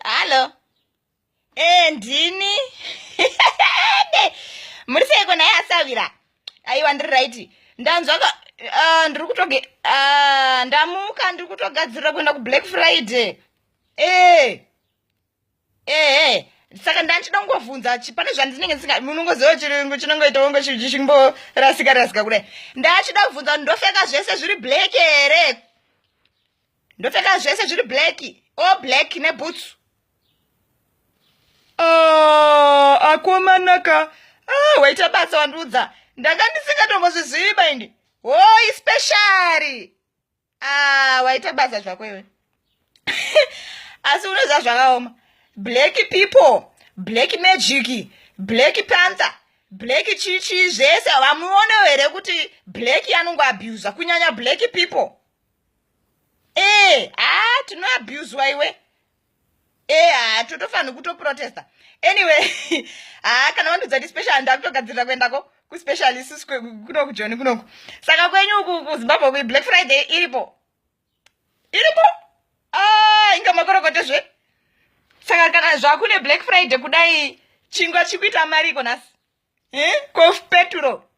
hallo e ndini muri seiko naye asavira aiwa ndiri right ndanzwa ah, ndiri kutoge ah, ndamuka ndiri kutogadzirira kuenda kublack friday ee ehe saka ndanchida kungovhunza pane zvandinenge ndisinga munongoziva chirungu chinongoita wongo chimborasika rasika kudai ndachida kuvhunza ndofeka zvese zviri black here ndopfeka zvese zviri black all black nebhutsu ah, akomanaka ah, waita basa wandiudza ndanga ndisingatombozvizivi baindi hoi speciali ah, waita basa zvako iwe asi unoziva zvakaoma black people black magic black panther black chichi zvese vamuonewo here kuti black anongoabusa kunyanya black people ee eh, haa ah, tinoabuswa iwe ee eh, haa ah, totofanira kutoprotesta anyway haa ah, kana vandiudza ti special handa kutogadzirira kuendako kuspecial isusu kunoku joni kunoku saka kwenyu uku kuzimbabwe kui black friday iripo iripo aa inga makorokote zve saka kana zvakune black friday kudai chingwa chikuita mari iko nhasi eh? kof peturo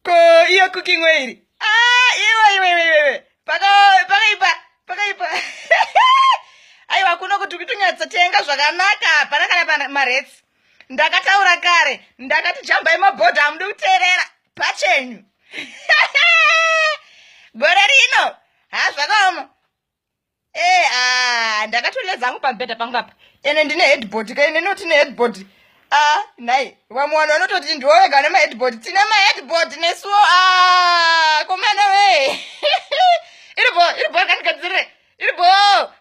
ko iyo cooking way iri ah, iwe iwe iwe iwe pakaipa pakaipa aiwa kuno kuti kutonyatsatsenga zvakanaka hapana kana maretsi ndakataura kare ndakati jambai mabhodha hamudi kuteerera pachenyu gore rino hazvakaoma Eh, ah, ndakatolela zangu pambeda pangu apa ene ndine headboard ka ine noti neheadboard a ah, nhai vamwe vanhu vanototi ndiwowega vane maheadboard tine maheadboard nesuwo a ah, komana wee iribo iribo kandikadzire iribo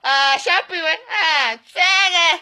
ah, shapu iwe tsenge